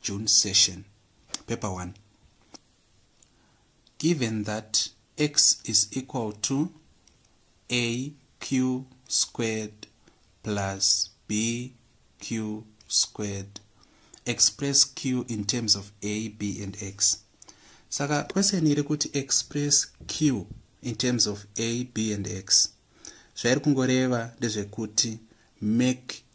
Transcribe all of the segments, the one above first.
June session. Paper 1. Given that x is equal to aq squared plus bq squared, express q in terms of a, b and x. Saka question iri kuti express q in terms of a, b and x. Zvairi kungoreva ndezvekuti make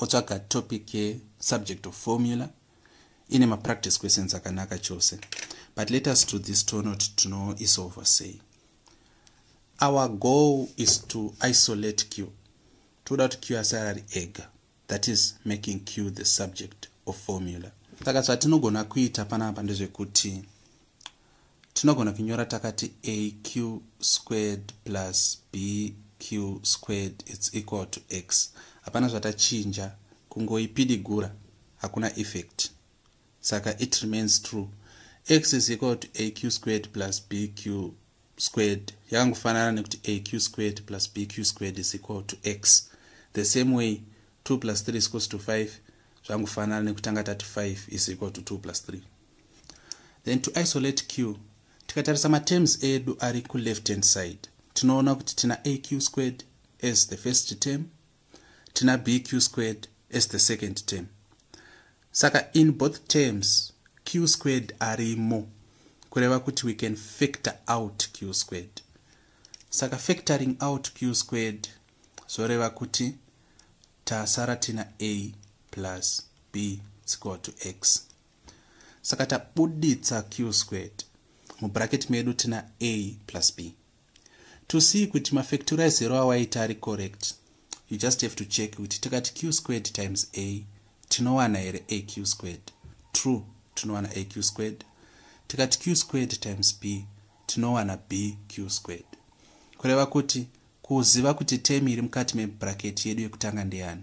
otsvaga topic yesubject of formula ine mapractice questions akanaka chose but let us to this tonot tinoisolva sei our goal is to isolate q toda kuti q asara ari ega that is making q the subject of formula saka zvatinogona kuita panapa ndezvekuti tinogona kunyora takati aq squared plus bq squared its equal to x hapana zvatachinja kungoipidigura hakuna effect saka it remains true x is equal to aq squared plus bq squared yakangofanana nekuti aq squared plus bq squared is equal to x the same way 2 plus 3 is equals to 5 zvangofanana nekutanga tati 5 is equal to 2 plus 3 then to isolate q tikatarisa materms edu ari kuleft hand side tinoona kuti tina aq squared as the first term tina bq squared as the second term saka in both terms q squared arimo kureva kuti we can factor out q squared saka factoring out q squared zvoreva kuti tasara tina a plus b equal to x saka tabuditsa q squared mubracket medu tina a plus b to see kuti mafactorize ero awaita ari correct you just have to check kuti tikati q squared times a tinowana here a q squared true tinowana a q squared tikati q squared times b tinowana b q squared kureva kuti kuziva kuti temi iri mukati mebracket yedu yekutanga ndeyani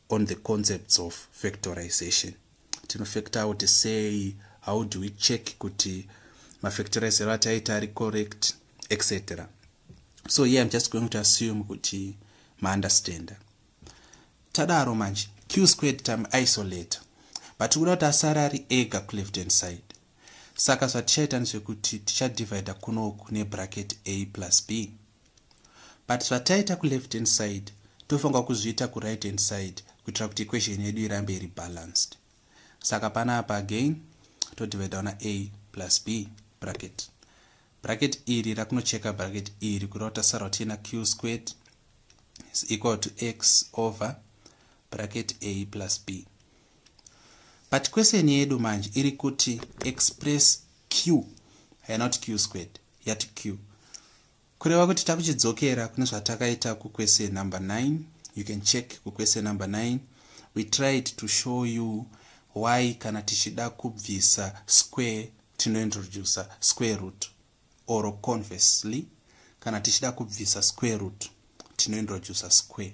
on the concepts of factorization tinofactor kuti sei how do we check kuti mafactorizero ataita ari correct etc so here im just going to assume kuti maunderstander tadaro manje q squared time isolate but kuda kuti asari ari ega kuleft hand side saka zvatichaita ndezvekuti tichadivida kunoku nebracket a plus b but zvataita kuleft hand side tofanirwa kuzviita kuright hand side kuitira kuti equation yedu irambe iri balanced saka pana apa again todividawo na a plus b bracket bracket iri rakunocheka bracket iri kureva kuti tasara tiina q squared is equal to x over bracket a plus b but question yedu manje iri kuti express q haina kuti q squared yati q kureva kuti takuchidzokera kune zvatakaita kuquestion number 9 you can check kuquestion number 9 we tried to show you why kana tichida kubvisa square tinointroduce square root or conversely kana tichida kubvisa square root tinointroduce square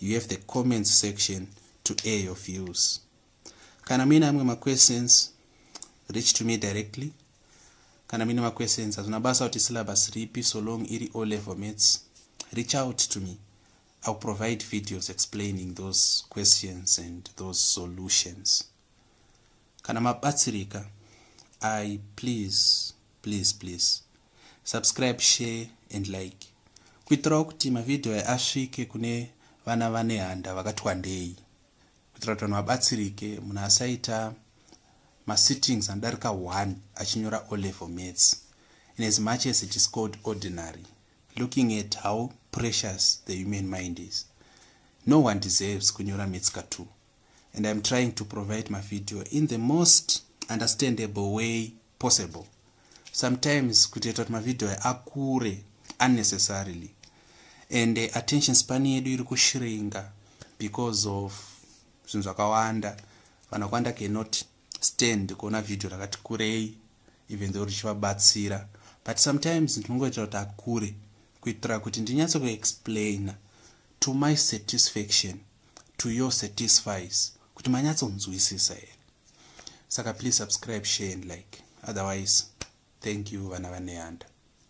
you have the comments section to air your views kana muine amwe maquestions reach to me directly kana muine maquestions hazvina basa kuti syllabus ripi so long iri o level mates reach out to me ill provide videos explaining those questions and those solutions kana mabatsirika i please please please subscribe share and like kuitirawo kuti mavhidhiyo aya asvike kune vana vane handa vakati wandei kuitira kuti vanhu vabatsirike munhu asaita masittings anodarika 1 achinyora o level maths in as much as it is called ordinary looking at how precious the human mind is no one deserves kunyora maths ka 2 and i'm trying to provide my video in the most understandable way possible sometimes kutoita kuti mavideo ayo akure unnecessarily and uh, attention span yedu iri kushringa because of zvinhu zvakawanda vanhu vakwanda cannot stand kuona vhidhiyo rakati kurei even though richivabatsira but sometimes ndinongoitira kuti akure kuitira kuti ndinyatso kuexplaina to my satisfaction to your satisfies kuti manyatsonzwisisa here saka please subscribe share and like otherwise thank you vana vaneyanda